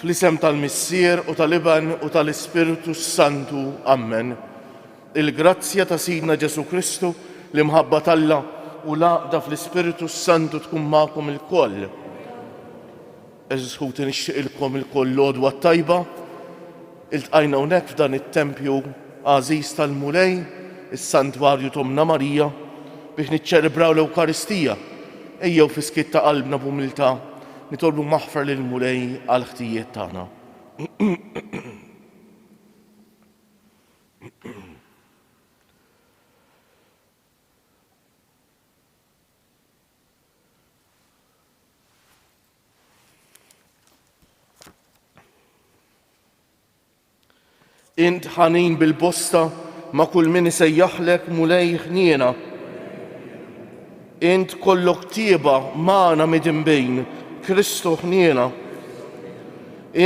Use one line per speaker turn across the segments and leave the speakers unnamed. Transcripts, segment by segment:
Fl-isem tal-Missier u tal-Iben u tal-Ispirtu s-Santu, ammen. Il-grazzja ta' Sidna Ġesù Kristu, l-imħabba t'Alla, u l-għaqda fl-Ispirtu s-Santu tkun magħkom ilkoll. Għeżież ħuti nixtieqilkom ilkoll l-għodwa t-tajba. Iltqajna hawnhekk f'dan it-tempju għażiż tal-Mulej, is-Santwarju t'Ommna Marija, biex niċċelebraw l-Ewkaristija. Ejjew fis-skiet ta' qalbna b'umiltà Nitolbu maħfra lill-Mulej għall-ħtijiet tagħna. Int ħanin bil-bosta ma' kull min isejjaħlek Mulej ħniena. Int kollok tieba magħna midinbin, Kristu ħniena.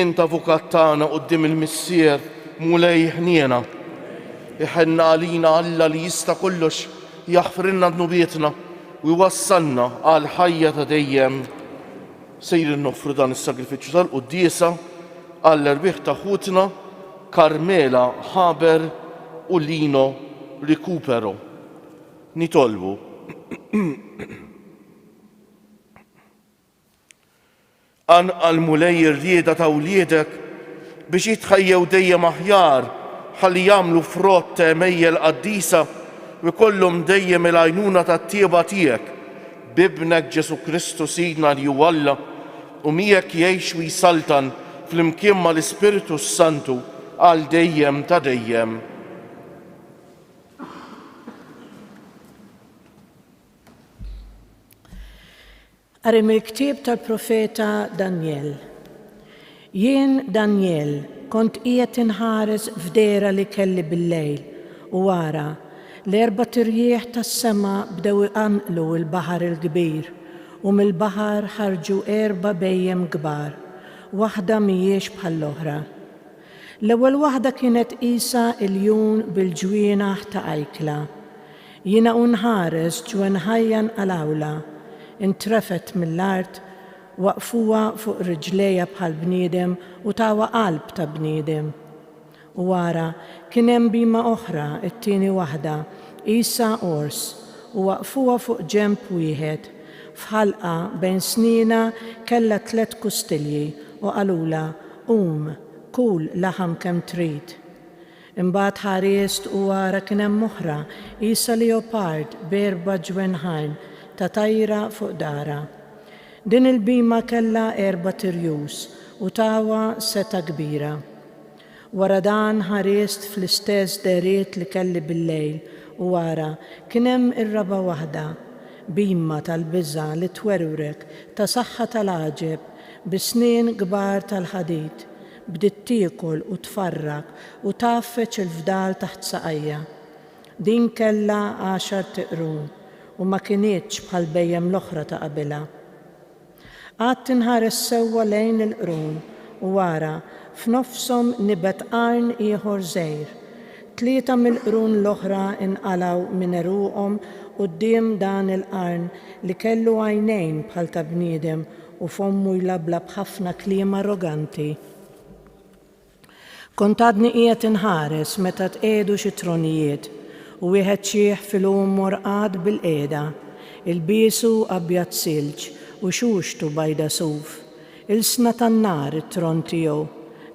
Int avukat tagħna quddiem il-Missier, Mulej ħniena. Iħenna għalina Alla li jista' kollox jaħfrilna dnubietna u jwassalna għall-ħajja ta' dejjem. Sejrin noffru dan is-sagrifiċċju tal-quddiesa għall-erwieħ ta' ħutna Carmela Haber u Lino Recupero. Nitolbu. Qanqal Mulej ir-rieda ta' wliedek biex jitħejjew dejjem aħjar ħalli jagħmlu frott ta' għemejjel qaddisa u jkollhom dejjem il-għajnuna tat-tjieba tiegħek b'Ibnek Ġesù Kristu Sidna li hu Alla u miegħek jgħix u jsaltan flimkien mal-Ispirtu s-Santu għal dejjem ta' dejjem.
Qari mill-ktieb tal-profeta Danjel. Jien, Danjel, kont qiegħed inħares f'dehra li kelli bil-lejl, u ara, l-erbat irjieħ tas-sema bdew iqanqlu l-baħar il-kbir, u mill-baħar ħarġu erba' bhejjem kbar, waħda m'hijiex bħall-oħra. L-ewwel waħda kienet qisha iljun bil-ġwienaħ ta' ajkla. Jiena u nħares ġwenħajja nqalgħulha, intrefgħet mill-art, Waqqfuha fuq riġlejha bħal bniedem u tawha qalb ta' bniedem. U ara, kien hemm bhima oħra, it-tieni waħda, qisha ors, u waqqfuha fuq ġenb wieħed. F'ħalqa bejn snienha kellha tliet kustilji, u qalulha, Qum, kul laħam kemm trid. Imbagħad ħarist u ara kien hemm oħra, qisha leopard b'erba' ġwenħajn ta' tajra fuq daharha. Din il-bhima kellha erbat irjus u tawha setgħa kbira. Wara dan ħarist fl-istess dehriet li kelli bil-lejl u ara kien hemm ir-raba' waħda, bhima tal-biża' li twerwrek ta' saħħa tal-għaġeb bi snien kbar tal-ħadid, Bdiet tiekol u tfarrak u tgħaffeġ il-fdal taħt saqajja. Din kellha għaxart qrun u ma kinitx bħall-bhejjem l-oħra ta' qabilha. Qgħadt inħares sewwa lejn il-qrun u ara f'nofshom nibet qarn ieħor żgħir. Tlieta mill-qrun l-oħra nqalgħu minn għeruqhom quddiem dan il-qarn li kellu għajnejn bħal ta' bniedem u fommu jlabblab b'ħafna kliem arroganti. Kont għadni qiegħed inħares meta tqiegħdu xi tronijiet u wieħed ċieħ fil-għum morqad bilqiegħda, ilbiesu abjad silġ u xuxtu bajda suf. Ilsna tan-nar it-tron tiegħu,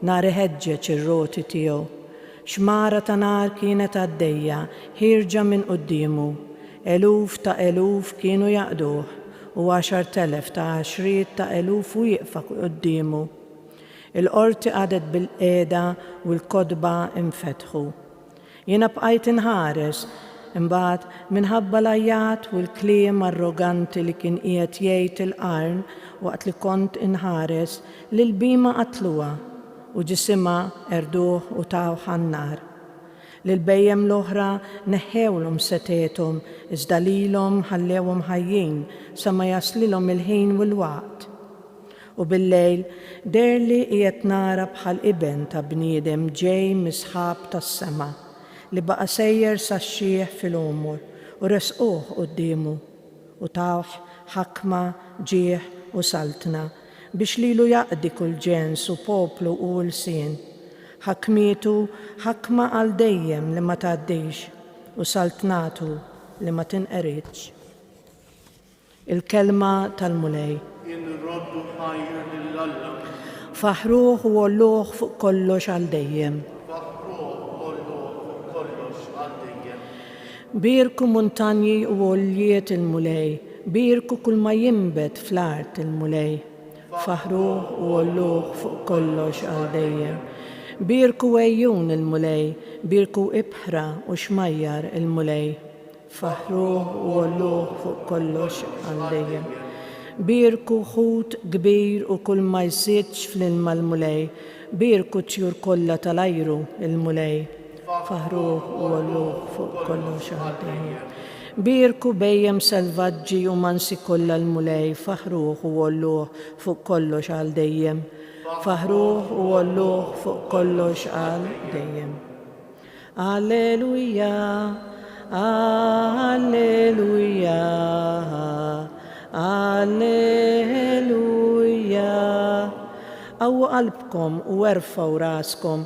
nar iħeġġeġ ir-roti tiegħu. Xmara ta' nar kienet għaddejja ħierġa minn quddiemu. Eluf ta' eluf kienu jaqduh, u għaxart elef ta' għaxriet ta' eluf wieqfa quddiemu. Il-qorti qagħdet bilqiegħda u l-kotba nfetħu. Jiena bqajt inħares. Imbagħad, minħabba l-għajjat u l-kliem arroganti li kien qiegħed jgħid il-qarn waqt li kont inħares, l-ilbiema qatluha. U ġisimha qerduh u tawh għan-nar. Lill-bhejjem l-oħra neħħewlhom setgħethom, iżda lilhom ħallewhom ħajjin sa ma jaslilhom il-ħin u l-waqt. U bil-lejl deherli qiegħed nara bħal Iben ta' bniedem ġej mis-sħab tas-sema, li baqa' sejjer sax-xieħ fil-għumur, u resquh quddiemu. U tawh ħakma, ġieħ, u saltna, Biex lilu jaqdi kull ġens u poplu u lsien. Ħakmietu ħakma għal dejjem li ma tgħaddix, u saltnatu li ma tinqeridx. Il-Kelma tal-Mulej. Inroddu
ħajr lil Alla. Faħħruh
u għolluh fuq kollox għal dejjem. Faħħruh u għolluh fuq kollox għal dejjem. Bierku muntanji u għoljiet il-Mulej, bierku kull ma jinbet fl-art il-Mulej. Faħħruh u għolluh fuq kollox għal dejjem. Bierku għejjun il-Mulej, bierku ibħra u xmajjar il-Mulej. Faħħruh u għolluh fuq kollox għal dejjem. Bierku ħut kbir u kull ma jsidx fl-ilma l-Mulej, bierku t-tjur kollha tal-ajru il-Mulej. Faħħru u għollu fuq kollox għall-Mulej. Bierku bhejjem selvaġġi u mansi kollha l-Mulej, faħħruh u għolluh fuq kollox għal dejjem. Faħħruh u għolluh fuq kollox għal dejjem. Alleluja, Alleluja, Alleluja. Qawwu qalbkom u erfgħu raskom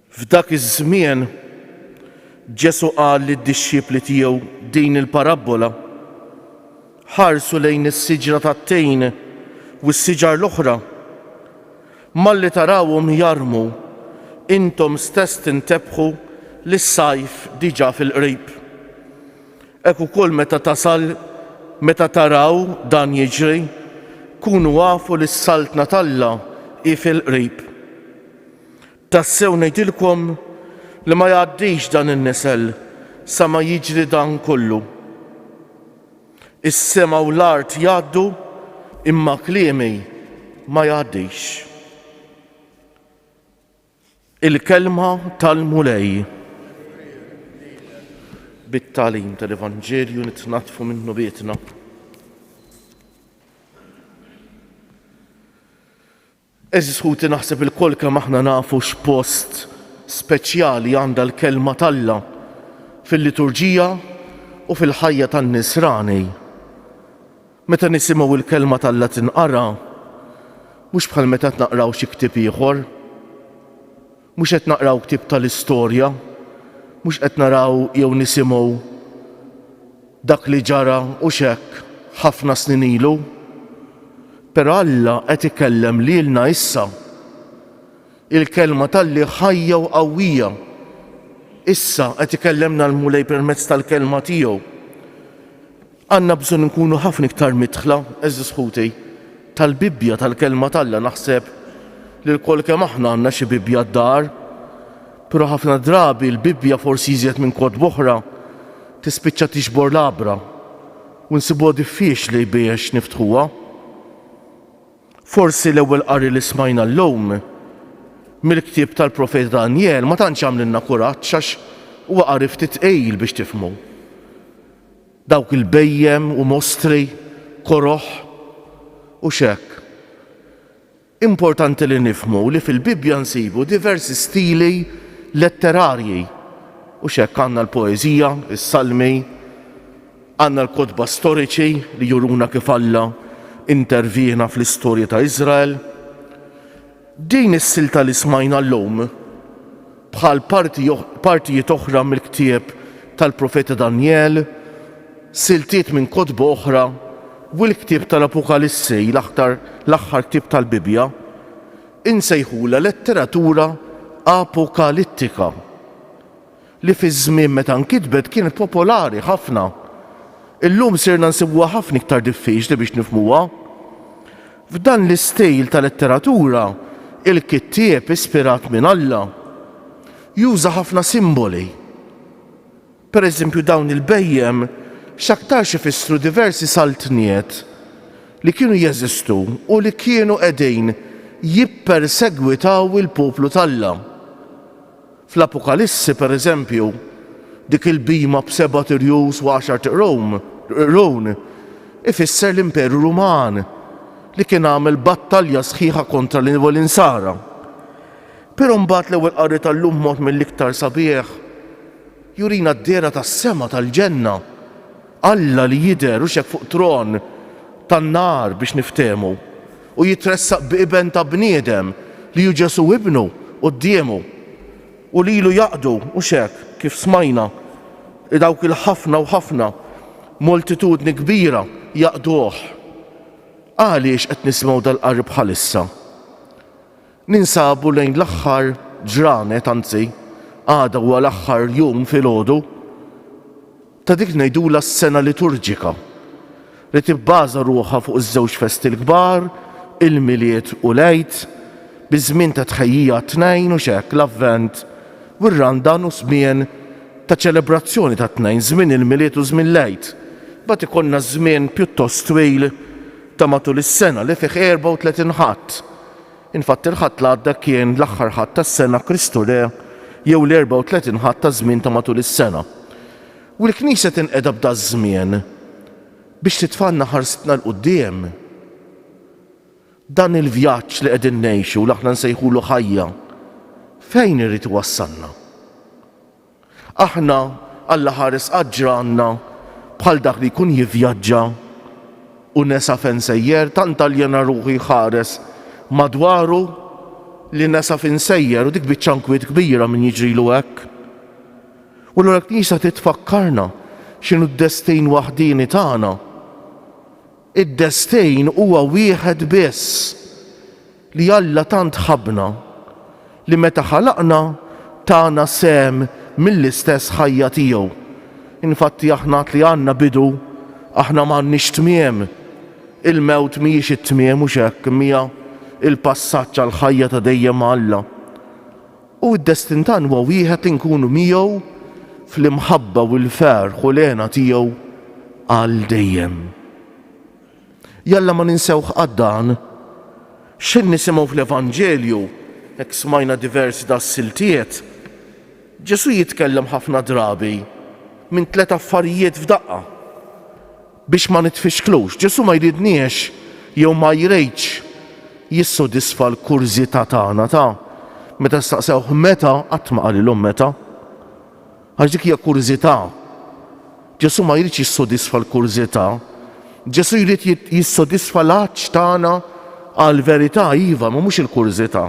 F'dak iż-żmien, Ġesù qal lid-dixxipli tiegħu din il-parabbola, Ħarsu lejn is-siġra tat-tgħin u s-siġar l-oħra. Malli tarawhom jarmu, intom stess tintebħu li s-sajf diġà fil-qrib. Hekk ukoll meta tasal meta taraw dan jiġri, kunu afu li s-Saltna t'Alla hi fil-qrib. Tassew ngħidilkom li ma jgħaddix dan in-nisel sa ma jiġri dan kollu. Is-sema u l-art jgħaddu, imma kliemi ma jgħaddix. Il-Kelma tal-Mulej. Bit-tagħlim tal-Evanġelju nitnaddfu minn nubietna. Għeżież ħuti naħseb ilkoll kemm aħna nafu x'post speċjali għandha l-Kelma t'Alla fil-liturġija u fil-ħajja tan-Nisrani. Meta nisimgħu l-Kelma t'Alla tinqara, mhux bħal meta qed naqraw xi ktieb ieħor, Mhux qed naqraw ktieb tal-istorja, mhux qed naraw jew nisimgħu dak li ġara u x'hekk ħafna snin ilu. Però Alla qed ikellem lilna issa. Il-Kelma t'Alli ħajja u qawwija. Issa qed ikellemna l-Mulej permezz tal-Kelma tiegħu. Għandna bżonn inkunu ħafna iktar midħla, għeżież ħuti, tal-Bibbja, tal-Kelma t'Alla. Naħseb li lkoll kemm aħna għandna xi Bibbja d-dar. Però ħafna drabi l-Bibbja, forsi iżjed minn kotba oħra, tispiċċa tixbor l-għabra u nsibuha diffiċli biex niftħuha. Forsi l-ewwel qari li smajna llum mill-ktieb tal-profeta Danjel ma tantx għamlilna kuraġġ għax huwa qari ftit tqil biex tifhmu. Dawk il-bhejjem u mostri koroh u x'hekk. Importanti li nifhmu li fil-Bibbja nsibu diversi stili letterarji u x'hekk għandna l-poeżija, is-salmi, għandna l-kotba storiċi li juruna kif Alla intervjena fl-istorja ta' Iżrael. Din is-silta li smajna llum, bħal partijiet oħra mill-ktieb tal-Profeta Danjel, siltiet minn kotba oħra, u l-ktieb tal-Apukalissi, l-aħħar ktieb tal-Bibbja, insejħulha letteratura apokalittika. li fiż-żmien meta nkitbet kienet popolari ħafna, illum sirna nsibuha ħafna iktar diffiċli biex nifhmuha. F'dan l-istil ta' letteratura, il-kittieb ispirat minn Alla juża ħafna simboli. Pereżempju dawn il-bhejjem x'aktarx ifissru diversi saltniet li kienu jeżistu u li kienu qegħdin jippersegwitaw il-poplu t'Alla. Fl-Apokalissi, pereżempju, dik il-bhima b'sebat irjus u għaxart qrun ifisser l-Imperu Ruman li kien għamel battalja sħiħa kontra l-Insara. Però mbagħad l-Ewwel Qari tal-lum b'mod mill-iktar sabiħ jurina d-dehra tas-sema tal-ġenna, Alla li jidher u x'hekk fuq tron tan-nar biex niftehmu. u jitressaq bi iben ta' bniedem li hu Ġesù ibnu quddiemu u lilu jaqdu, mhux hekk, kif smajna, dawk il-ħafna u ħafna, moltitudni kbira, jaqduh. Għaliex qed nisimgħu dal-qari bħalissa? Ninsabu lejn l-aħħar ġranet, anzi, għada huwa l-aħħar jum filgħodu ta' dik ngħidulha s-sena liturġika li tibbaża ruħha fuq iż-żewġ festi l-kbar, il-Milied u l-Għid, bi żmien ta' tħejjija għat-tnejn u x'hekk, l-Avvent u r-Randan u żmien ta' ċelebrazzjoni tat-tnejn, żmien il-Milied u żmien l-Għid. Imbagħad ikollna żmien pjuttost twil ta' matul is-sena li fih 34 Ħadd. Infatti l-Ħadd l-għadda kien l-aħħar Ħadd tas-sena Kristu Re jew l-34 Ħadd taż-żmien ta' matul is-sena. U l-Knisja tinqeda b'daż-żmien biex titfgħalna ħarsitna 'l quddiem. Dan il-vjaġġ li qegħdin ngħixu li aħna nsejħulu ħajja, fejn irid iwassalna? Aħna, Alla ħares qatt ġranna bħal dak li jkun jivjaġġa u nesa fejn sejjer, tant aljena ruħu jħares madwaru li nesa fejn sejjer u dik biċċa nkwiet kbira min jiġrilu hekk. U allura l-Knisja trid tfakkarna x'inhu d-destin waħdieni tagħna. Id-destejn huwa wieħed biss, li Alla tant ħabbna, li meta ħalaqna tana sehem mill-istess ħajja tiegħu. Infatti aħna għad li għandna bidu, aħna m'għandniex tmiem. Il-mewt mhijiex it-tmiem, hux hekk, imma hija l-passaġġ għall-ħajja ta' dejjem ma' Alla. U d-destin tagħna huwa wieħed li nkunu miegħu fl-imħabba u l-ferħ u l-hena tiegħu għal dejjem. Jalla ma ninsewh qatt dan. X'ħin nisimgħu fl-Evanġelju, hekk smajna diversi das-siltiet, Ġesù jitkellem ħafna drabi minn tliet affarijiet f'daqqa. Biex ma nitfixklux, Ġesù ma jridniex jew ma jridx jissodisfa l-kurżità tagħna ta' meta staqsewh meta, qatt ma qalilhom meta. Għax dik hija kurżità. Ġesù ma jridx jissodisfa l-kurżità. Ġesù jrid jissodisfa l-għatx tagħna għall-verità, iva, ma mhux il-kurżità.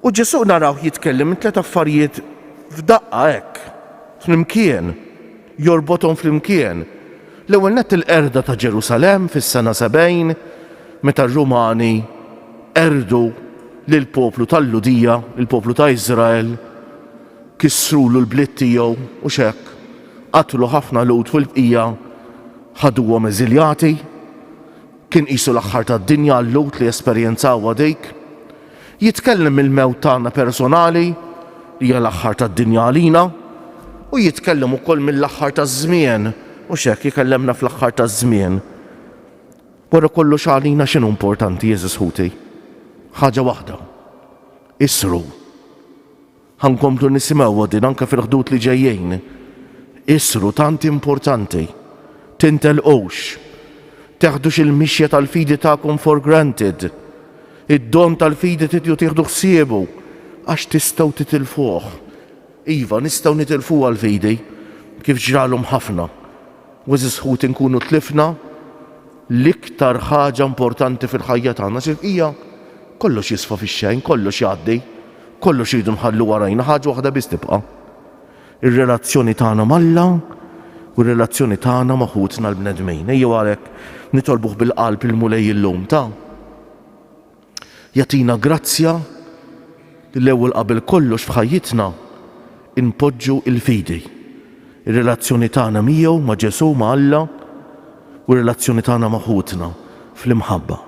U Ġesù narawh jitkellem minn tliet affarijiet f'daqqa hekk, flimkien. jorbothom flimkien, l-ewwel nett il-qerda ta' Ġerusalemm fis-sena 70 meta r-Rumani qerdu lill-poplu tal-Lhudija, il-poplu ta' Iżrael, kissrulu l-bliet tiegħu, hux hekk, qatlu ħafna Lhud fil-bqija ħaduhom eżiljati. Kien qisu l-aħħar tad-dinja għal-Lhud li esperjenzawha dik. Jitkellem mill-mewt tagħna personali, li hija l-aħħar tad-dinja għalina, u jitkellem ukoll mill-aħħar taż-żmien, mhux hekk, ikellemna fl-aħħar taż-żmien. Wara kollox għalina x'inhu importanti, għeżież ħuti? Ħaġa waħda, isru. Ħa nkomplu nisimgħuha din anke fil-ħdud li ġejjin. Issru tant importanti. Tintelqux. Teħdux il-mixja tal-fidi tagħkom for granted. Id-don tal-fidi tridu tieħdu ħsiebu għax tistgħu titilfuh. Iva, nistgħu nitilfuha l-fidi, kif ġralhom ħafna. U għeżież ħuti nkunu tlifna l-iktar ħaġa importanti fil-ħajja tagħna. Sirqija? Kollox jisfa fix-xejn, kollox jgħaddi. Kollox irridu nħallu warajna, ħaġa waħda biss tibqa', ir-relazzjoni tagħna m'Alla u r-relazzjoni tagħna ma' ħutna l-bnedmin. Ejjew għalhekk nitolbuh bil-qalb il-Mulej illum ta' jagħtina grazzja li l-ewwel qabel kollox f'ħajjitna npoġġu l-fidi, ir-relazzjoni tagħna miegħu, ma' Ġesù, ma' Alla, u r-relazzjoni tagħna ma' ħutna fl-imħabba.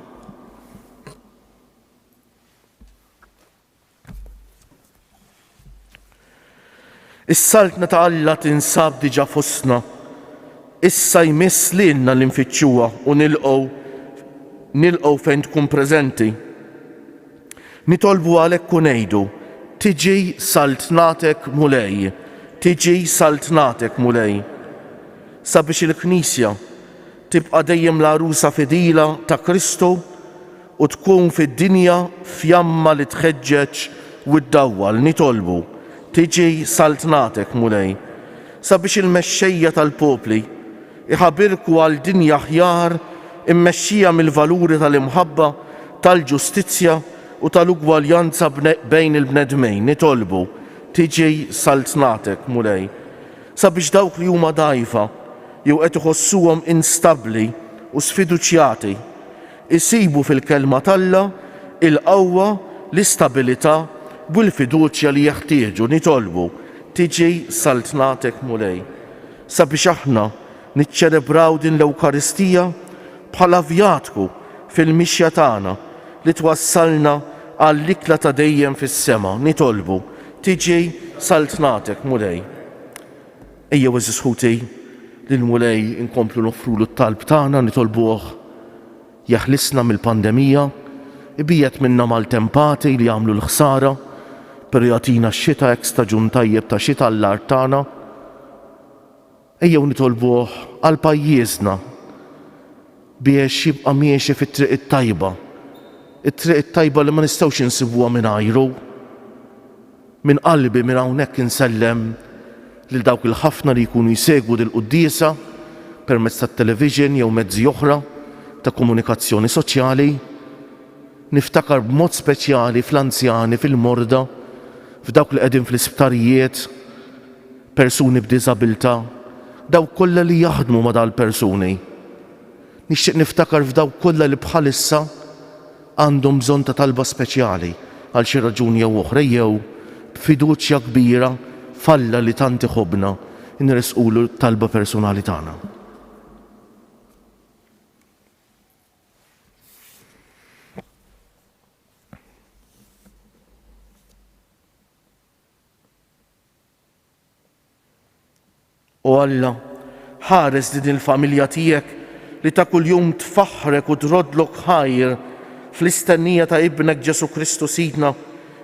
Is-saltna ta' Alla tinsab diġà fostna. Issa jmiss lilna li nfittxuha u nilqgħu nilqgħu fejn tkun preżenti. Nitolbu għalhekk u ngħidu, tiġi saltnatek Mulej, tiġi saltnatek Mulej. Sabiex il-Knisja Tibqa' dejjem l-għarusa fidila ta' Kristu u tkun fid-dinja fjamma li tħeġġeġ u ddawwal. Nitolbu, Tiġi Saltnatek, Mulej, sabiex il-mexxejja tal-popli jħabirku għal dinja aħjar immexxija mill-valuri tal-imħabba, tal-ġustizzja u tal-ugwaljanza bejn il-bnedmin. Nitolbu, Tiġi Saltnatek, Mulej. Sabiex dawk li huma dgħajfa jew qed iħossuhom instabbli u sfiduċjati jsibu fil-Kelma t'Alla l-qawwa, l-istabilità u l-fiduċja li jeħtieġu, nitolbu, Tiġi Saltnatek Mulej. Sabiex aħna Niċċelebraw din l-Ewkaristija bħala vjatku fil-mixja tagħna li twassalna għall-ikla ta' dejjem fis-sema. Nitolbu, Tiġi Saltnatek, Mulej. Ejjew, għeżież ħuti, lill-Mulej inkomplu noffrulu t-talb tagħna, nitolbuh jeħlisna mill-pandemija, ibiegħed minna maltempati li jagħmlu l-ħsara, però jagħtina x-xita hekk staġun tajjeb ta' xita għall-art tagħna. Ejjew nitolbuh għal pajjiżna biex jibqa' miexi fit-triq it-tajba, it-triq it-tajba li ma nistgħux insibuha mingħajru. Minn qalbi minn hawnhekk insellem lil dawk il-ħafna li jkunu jsegwu dil-quddiesa permezz tat-television jew mezzi oħra ta' komunikazzjoni soċjali. Niftakar b'mod speċjali fl-anzjani, fil-morda, f'dawk li qegħdin fl-isptarijiet, persuni b'diżabilità, dawk kollha li jaħdmu ma' dal-persuni. Nixtieq niftakar f'dawk kollha li bħalissa għandhom bżonn ta' talba speċjali għal xi raġuni jew oħra ejjew b'fiduċja kbira f'Alla li tant iħobbna nressqulu t-talba persunali tagħna. O Alla, ħares din il-familja tiegħek li ta' kuljum tfaħħrek u troddlok ħajr fl-istennija ta' Ibnek Ġesù Kristu Sidna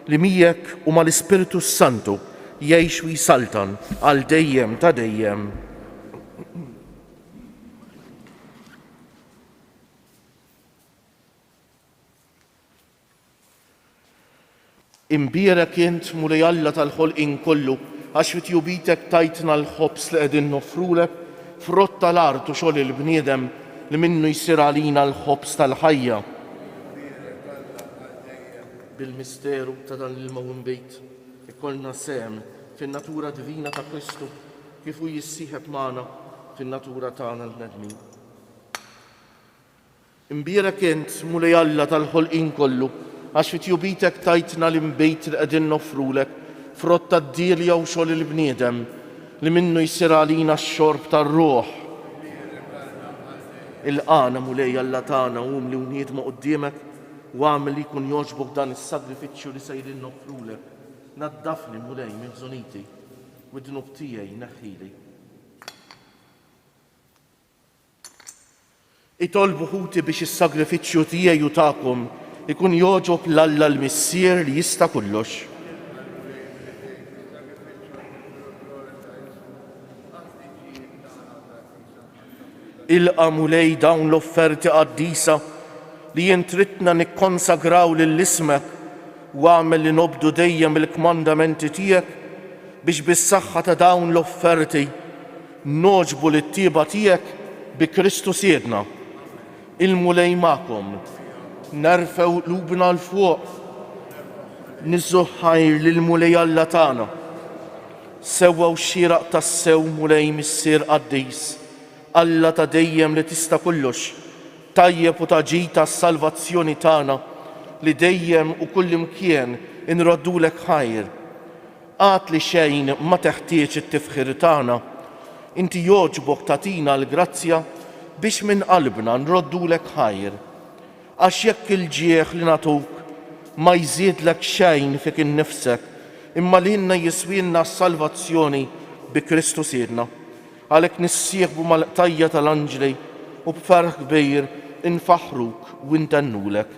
li miegħek u mal-Ispirtu s-Santu jgħix u jsaltan għal dejjem ta' dejjem. Imbierek int, Mulej Alla tal-ħolqien kollu, għax fi tjubitek tajtna l-ħobż li qegħdin noffrulek, frott tal-art u xogħol il-bniedem, li minnu jsir għalina l-ħobż tal-ħajja. Imbierek Alla għal dejjem. Bil-misteru ta' dan l-ilma u nbid, ikollna sehem fin-natura divina ta' Kristu, kif hu jissieħeb magħna fin-natura tagħna l-bnedmin. Nbierek int, Mulej Alla tal-ħolqien kollu, għax fi tjubitek tajtna l-inbid li qegħdin noffrulek, frott tad-dielja u xogħol il-bniedem, li minnu jsir għalina x-xorb tar-ruħ. Ilqagħna, Mulej Alla tagħna, umli u niedma quddiemek, u agħmel li jkun jogħġbok dan is-sagrifiċċju li sejrin noffrulek. Naddafni, Mulej, minn ħżuniti, u d-dnub tiegħi neħħili. Itolbu ħuti biex is-sagrifiċċju tiegħi u tagħkom ikun jogħġob 'l Alla l-Missier li jista' kollox. Ilqa', Mulej, dawn l-offerti qaddisa li int ridtna nikkonsagraw lil ismek u agħmel li nobdu dejjem il-kmandamenti tiegħek biex bis-saħħa ta' dawn l-offerti Nogħġbu lit-tjieba tiegħek bi Kristu Sidna. Il-Mulej magħkom. Nerfgħu qlubna 'l fuq niżżu ħajr lill-Mulej Alla tagħna, sewwa u xieraq tassew Mulej Missier Qaddis, Alla ta' dejjem li tista' kollox, tajjeb u ta' ġid għas-salvazzjoni tagħna li dejjem u kullimkien inroddulek ħajr. Għad li xejn ma teħtieġ it-tifħir tagħna. Inti jogħġbok tagħtina l-grazzja biex minn qalbna nroddulek ħajr. Għax jekk il-ġieħ li nagħtuk ma jżidlek xejn fik innifsek, imma lilna jiswielna s-salvazzjoni bi Kristu Sidna. Għalhekk nissieħbu mal-qtajja' tal-anġli u b'ferħ kbir infaħħruk u ntennulek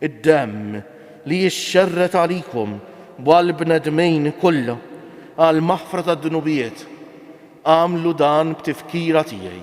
id-demm li jixxerred għalikom u għall-bnedmin kollha għall-maħfra tad-dnubiet, agħmlu dan b'tifkira tiegħi.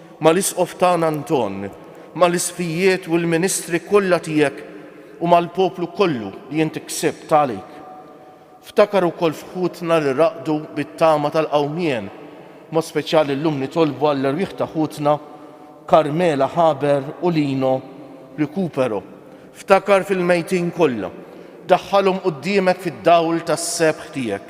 mal-Isqof tagħna Anton, mal-Isqfijiet u l-ministri kollha tiegħek u mal-poplu kollu li int ksibt għalik. Ftakar ukoll f'ħutna li raqdu bit-tama tal-qawmien, b'mod speċjali llum nitolbu għall-erwieħ ta' ħutna Carmela Haber u Lino Recupero. Ftakar fil-mejtin kollha. Daħħalhom quddiemek fid-dawl tas-sebħ tiegħek.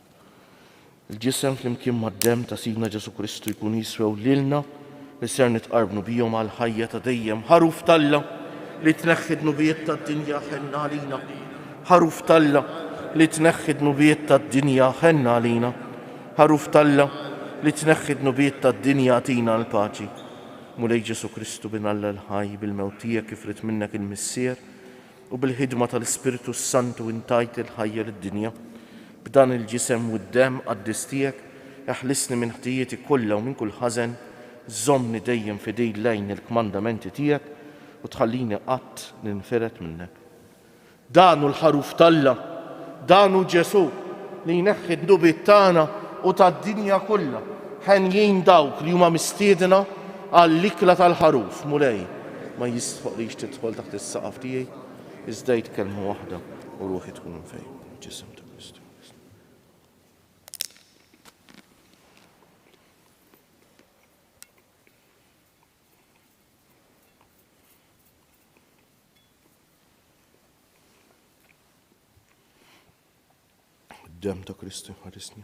Il-ġisem flimkien mad-demm ta' Sidna Ġesù Kristu jkun jiswew lilna li ser nitqarbnu bihom għal ħajja ta' dejjem. Ħaruf t'Alla li tneħħi dnubiet tad-dinja ħenna għalina. Ħaruf t'Alla li tneħħi dnubiet tad-dinja ħenna għalina. Ħaruf t'Alla li tneħħi dnubiet tad-dinja tina l-paċi. Mulej Ġesù Kristu bin Alla l-ħaj bil-mewt tiegħek kif rid minnek il-Missier, U bil-ħidma tal-Ispirtu s-Santu intajt il-ħajja lid-dinja. B'dan il-ġisem u d-demm qaddis tiegħek, eħlisni minn ħtijieti kollha u minn kull ħażen, żommni dejjem fidil lejn il-kmandamenti tiegħek u tħallini qatt ninfired minnek. Dan hu l-Ħaruf t'Alla! Dan hu Ġesù li jneħħi d-dnubiet tagħna u tad-dinja kollha. Henjin dawk li huma mistiedna għall-ikla tal-Ħaruf, Mulej. ma jistħoqlix tidħol taħt is-saqaf tiegħi, iżda għid kelma waħda u ruħi tkun imfejqa mill-ġisem ta' Kristu. Dem ta' Kristu ħarisni.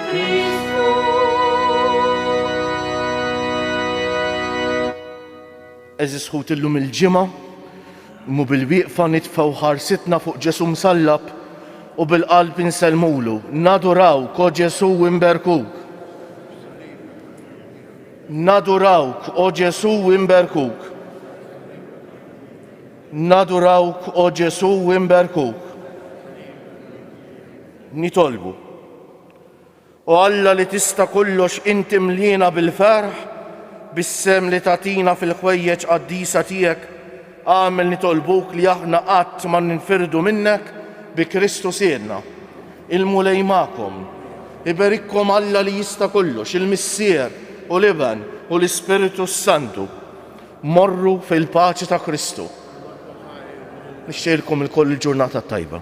Għeżież ħut illum il-Ġimgħa mhu bil-wieqfa nitfgħu ħarsitna fuq Ġesù msallab u bil-qalb insellmulu, nadurawk, o Ġesù imberkuk. Nadurawk, o Ġesù imberkuk. Nadurawk, o Ġesù imberkuk. Nitolbu, O Alla li tista' kollox int imliena bil-ferħ bis-sehem li tagħtina fil-ħwejjeġ qaddisa tiegħek, agħmel nitolbuk li aħna qatt ma ninfirdu minnek bi Kristu Sidna. Il-Mulej magħkom. Iberikkom Alla li jista' kollox, il-Missier u l-Iben u l-Ispirtu s-Santu. Morru fil-paċi ta' Kristu. Nixtieqilkom ilkoll il-ġurnata t-tajba.